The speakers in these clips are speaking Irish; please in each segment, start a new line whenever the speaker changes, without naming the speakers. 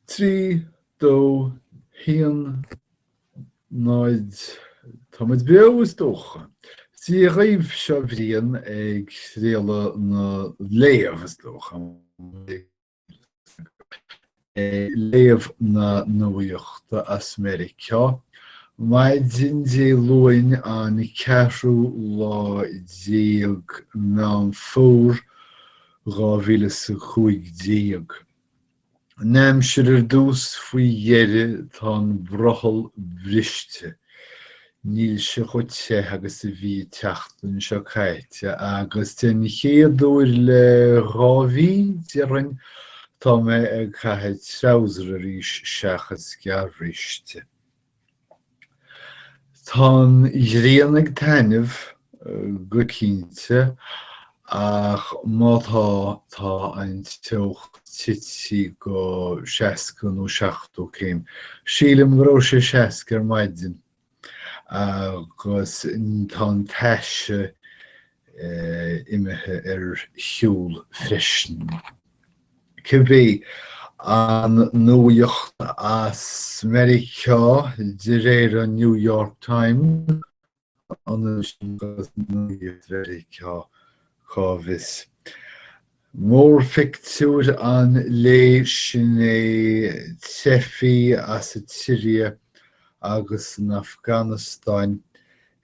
Trí, dó, haon, náid, Táimid beo, is dócha. Sé dhaoibh seo Brian ag réaladh na léamh, is dócha. léamh na nuachta as Meiriceá maidin Dé Luain an ceathrú lá déag Meán Fómhair 2015. An aimsir ar dtús, faoi dheireadh tá an brothall briste. Níl sé chomh te agus a bhí an tseachtain seo caite agus den chéad uair le dhá mhí, déarfainn, tá mé ag caitheamh treabhsar arís seachas gearrbhriste. Tá an ghrian ag taitneamh go cinnte, ach má tá, tá an teocht tite go 60 nó 70 céim. Sílim go raibh sé 60 ar maidin agus tá an taise imithe ar shiúl freisin. Cibé, an nuaíocht as Meiriceá, de réir an New York Times, Cá bhfios? Mórphictiúr an lae sin é teifigh as an tSiria agus an Afganastáin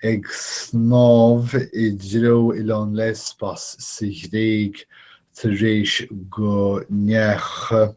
ag snámh i dtreo oileán Lesbos sa Ghréig tar éis go ndeachaigh.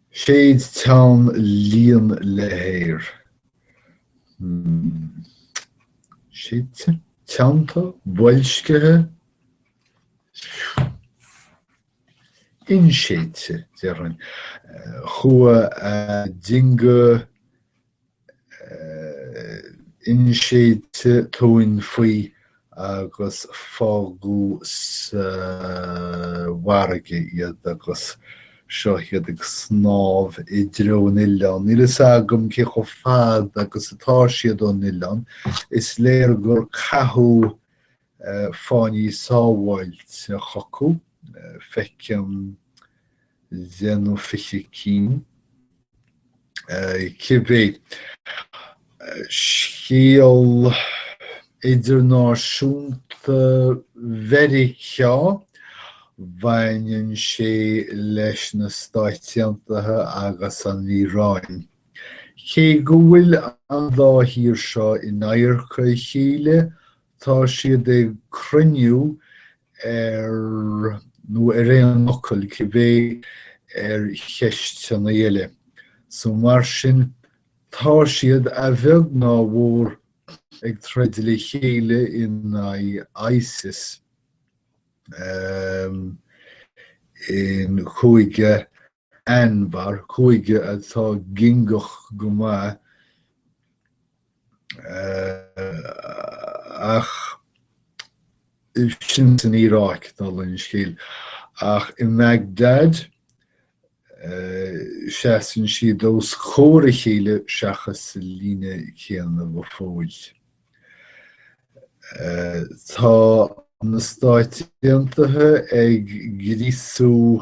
Séid teann líon le haer. Séidte? Teannta? Boilscithe? Inséidte, déarfainn. Chuaigh a dingí inséidte tóin faoi agus fágadh sa bhfarraige iad agus seo iad ag snámh i dtreo an oileáin. Níl a fhios agam cé chomh fada agus atá siad ón oileán, is léir gur caitheadh fáinní sábhála chucu, feicim deich nó fiche cinn. Cibé scéal idirnáisiúnta Mheiriceá, baineann sé leis na Stáit Aontaithe agus an Iaráin. Cé go bhfuil an dá thír seo in adharca a chéile, Tá siad ag cruinniú nó ar aon fhocal cibé ar cheisteanna eile so mar sin tá siad a bheag ná a mhór ag troid le chéile in aghaidh Isis i gCúige Anbar, cúige atá guagach go maith ach sin san Iaráic dála an scéil, ach i mBagdad seasann siad os comhair a chéile seachas sa líne chéanna go fóill. Tá na Stáit Aontaithe ag gríosú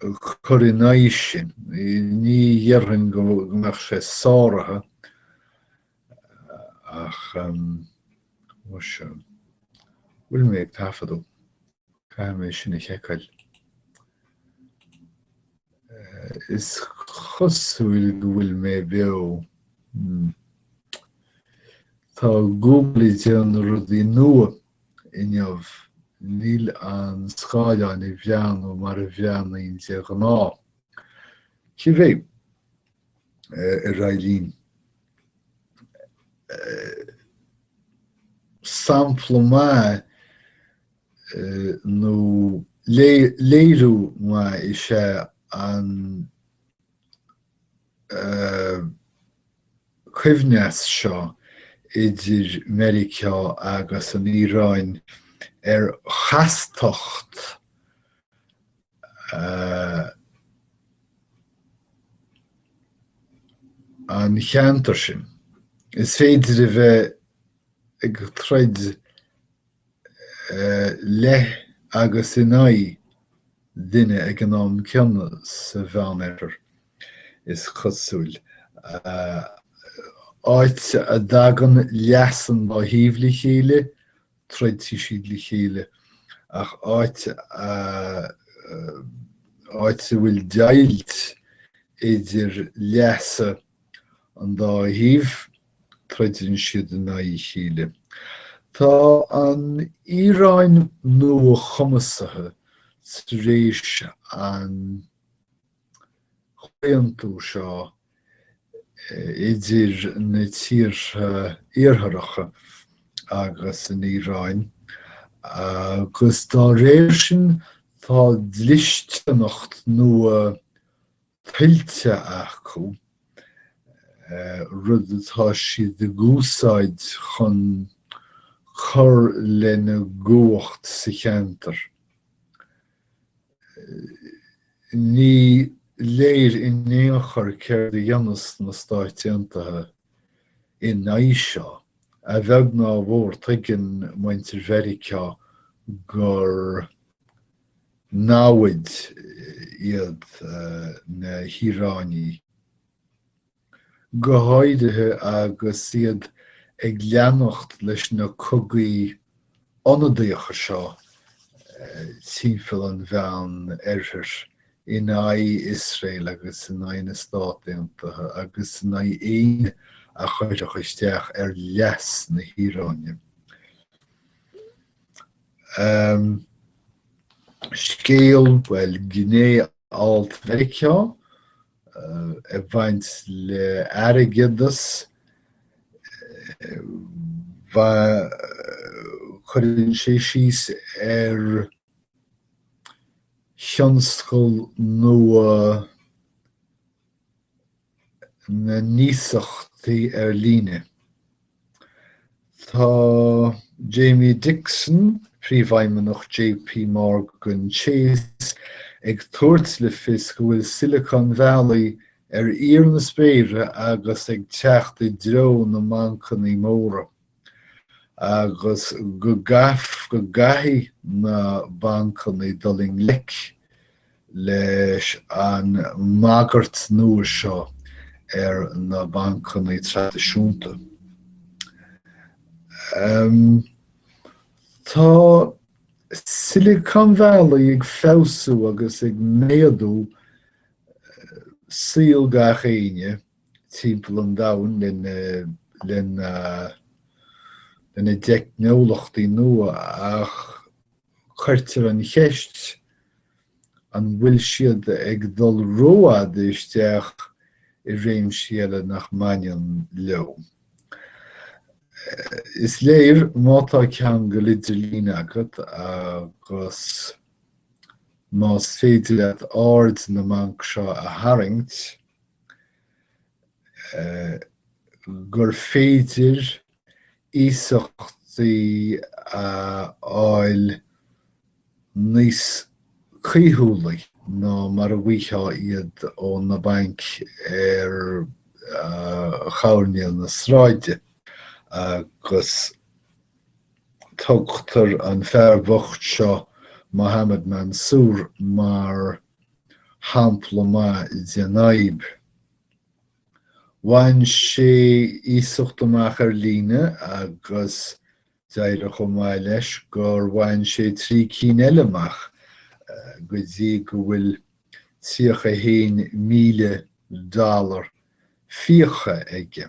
chur in aghaidh sin. Ní dhéarfainn go mbeadh sé sáraithe ach an bhfuil mé ag taifeadadh? Caithfidh mé sin a sheiceáil. Is cosúil go bhfuil mé beo. Tá Google ag déanamh rudaí nua Inniu, níl an scáileán ag breathnú mar a bhreathnaíonn de ghnáth. Cibé, ar aghaidh linn. Sampla maith nó léiriú maith is ea an coibhneas seo idir Meiriceá agus an Iaráin ar chastacht an cheantair sin. Is féidir a bheith ag troid i leith agus in aghaidh duine ag an am céanna sa Mheánoirthear, is cosúil, áit a dtagann leas an dá thaobh le chéile, troidfidh siad le chéile, ach áit a áit a bhfuil deighilt idir leasa an dá thaobh, Troideann siad in aghaidh a chéile. Tá an Iaráin nuachumasaithe tar éis an comhaontú seo idir na tíortha Iartharacha agus an Iaráin agus dá réir sin tá dlisteanacht nua tuillte acu, rud atá siad a úsáid chun cur lena gcumhacht sa cheantar. Ní léir in aon chor céard a dhéanfas na Stáit Aontaithe in aghaidh seo. A bheag ná a mhór, tuigeann muintir Mheiriceá gur namhaid iad na hIaránaigh, go háirithe agus iad ag leanacht leis na cogaí ionadaíochta seo timpeall an Mheánoirthir in aghaidh Iosrael agus in aghaidh na Stát Aontaithe agus in aghaidh éinne a chuirfeadh isteach ar leas na hIaráine. Am, scéal, bhuel, gné alt Mheiriceá ag baint le airgeadas, cuireann sé síos ar thionscal nua na n-iasachtaí ar líne. Tá Jamie Dixon, Príomhfheidhmeannach JP Morgan Chase, ag tabhairt le fios go bhfuil Silicon Valley ar fhíor na spéire agus ag teacht i dtreo na mbancannaí móra. agus go gcaithfidh na bancannaí dul i ngleic leis an mbagairt nua seo ar na bancannaí traidisiúnta. Tá Silicon Valley ag feabhsú agus ag méadú saol gach éinne, timpeall an domhain lena, lena, lena dteicneolachtaí nua ach cuirtear an cheist an bhfuil siad ag dul rófhad isteach i réimsí eile nach mbaineann leo. Is léir má tá ceangal idirlín agat agus más féidir leat aird na mbanc seo a tharraingt, gur féidir iasachtaí a fháil níos caoithiúlaí ná mar a bhfaigheá iad ó na bainc ar choirnéal na sráide agus tugtar an fear bocht seo, Mohamed Mansoor, mar shampla maith den fhadhb. Bhain sé iasacht amach ar líne agus d'éirigh chomh maith leis gur bhain sé trí cinn eile amach go dtí go bhfuil 31,000 dollar fiacha aige.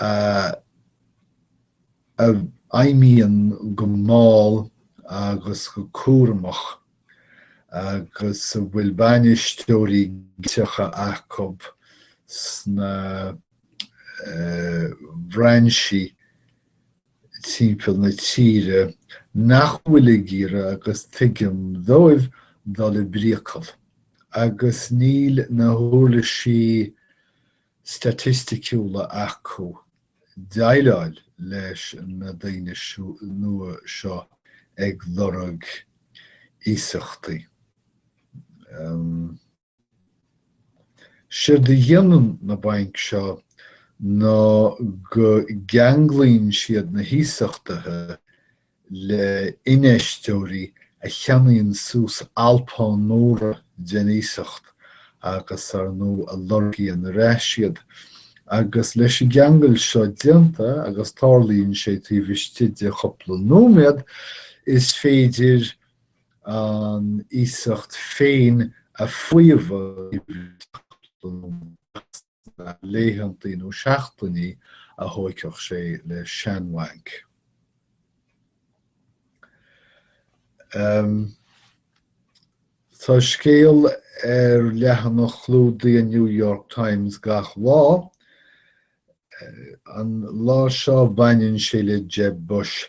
a fheidhmíonn go mall agus go cúramach agus a bhfuil bainisteoirí acu sna brainsí timpeall na tíre nach bhfuil ag iarraidh agus tuigim dóibh dul i bpriacal agus níl na huirlisí staitisticiúla acu déileáil leis na daoine nua seo ag lorg iasachtaí. Séard a dhéanann na bainc seo ná go gceanglaíonn siad na hiasachtaithe le infheisteoirí a cheannaíonn suas alpáin mhóra den iasacht agus, ar ndú, a lorgaíonn ar ais iad. Agus leis an gceangal seo déanta, agus tarlaíonn sé taobh istigh de chúpla nóiméad, is féidir an iasacht féin a fhaomhadh laethantaí nó seachtainí a thógfadh sé le seanbhanc. Tá scéal ar leathanach clúdaigh an New York Times gach lá. An lá seo baineann sé le Jeb Bush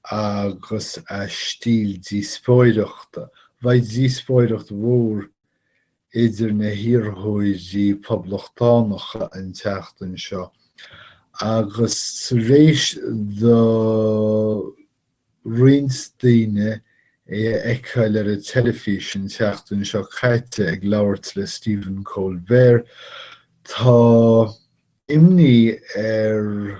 agus a stíl díospóireachta. Beidh díospóireacht mhór idir na hiarrthóirí Poblachtánacha an tseachtain seo agus tar éis do roinnt daoine é a fheiceáil ar an teilifís an tseachtain seo caite ag labhairt le Stephen Colbert, tá imní ar.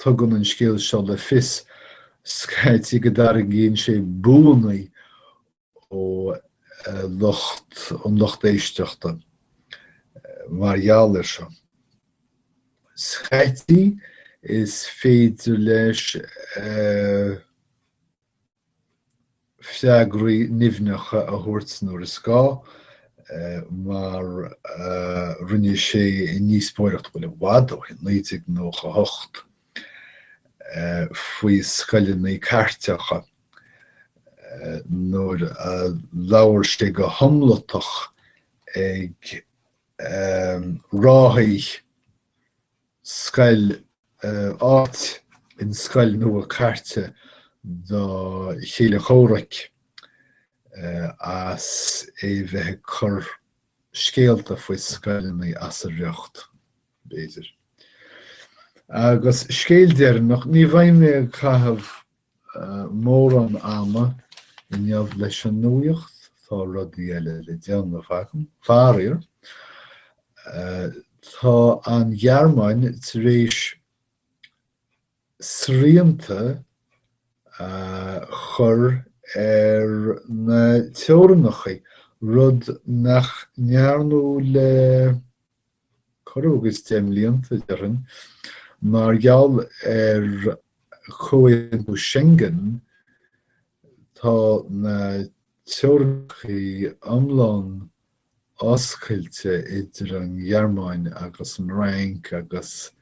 Tugann an scéal seo le fios scaití go dtarraingíonn sé buanna ó lucht an lucht éisteachta mar gheall air seo. Scaití is féidir leis a. freagraí nimhneacha a thabhairt nuair is gá, mar a rinne sé i ndíospóireacht bhuel i bhfad ó shin, 1998, faoi scoileanna cairteacha nuair a labhair sé go hiomlatach ag ráthaigh, scoil áit in scoil nua cairte do chéile comhraic as é bheith ag cur scéalta faoi scoileannaí as a riocht, b'fhéidir. Agus scéal deireanach, ní bheidh mé ag caitheamh mórán ama inniu leis an nuaíocht, tá rudaí eile le déanamh agam. Faraor, tá an Ghearmáin tar éis srianta a chur ar na teorainneachaí, rud nach ndearnadh le corradh agus deich mblianta, déarfainn, mar gheall ar Chomhaontú Schengen, tá na teorainneachaí iomlán oscailte idir an Ghearmáin agus an Fhrainc agus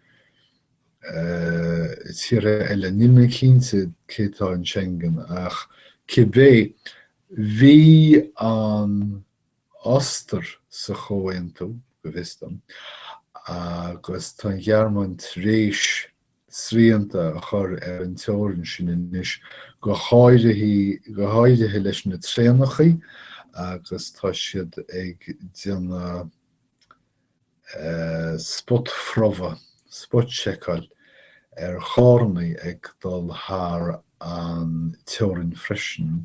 tíortha eile. Níl mé cinnte cé atá in Schengen ach cibé, bhí an Ostair sa chomhaontú, go bhfios dom, agus tá an Ghearmáin tar éis srianta a chur ar an teorainn sin anois, go háirithe go háirithe leis na traenachaí agus tá siad ag déanamh spotphrobhadh, spot-checkáil, ar charrannaí ag dul thar an teorainn freisin.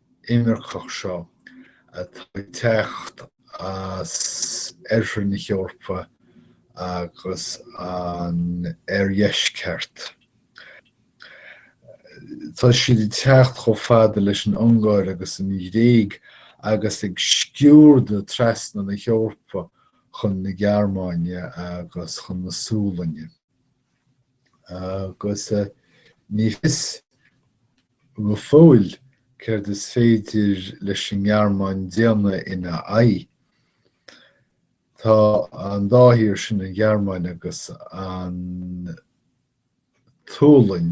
imirceach seo atá ag teacht as oirthear na hEorpa agus an oirdheisceart. Tá siad ag teacht chomh fada leis an Ungáir agus an Ghréig agus ag sciúrdadh trasna na hEorpa chun na Gearmáine agus chun na Sualainne. agus ní fios go fóill céard is féidir leis an nGearmáin déanamh ina aghaidh. Tá an dá thír sin, an Ghearmáin agus an tSualainn,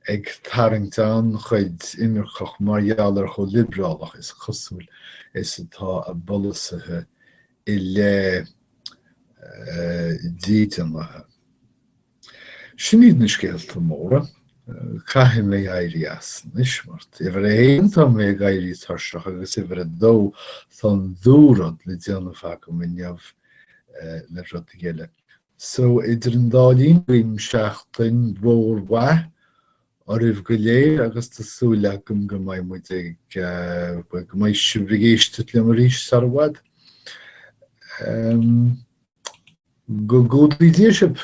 ag tarraingt an-chuid imirceach mar gheall ar chomh liobrálach, is cosúil, is atá a bpolasaithe i leith dídeanaithe. Sin iad na scéalta móra. Caithfidh mé éirí as anois mar uimhir a haon tá mé ag éirí tuirseach agus uimhir a dó tá an dú-rud le déanamh agam inniu le rudaí eile. So idir an dá linn guím seachtain mhór mhaith oraibh go léir agus tá súil agam go mbeidh muid ag, go mbeidh sibh ag éisteacht liom arís sar i bhfad. Go gcumhdaí Dia sibh!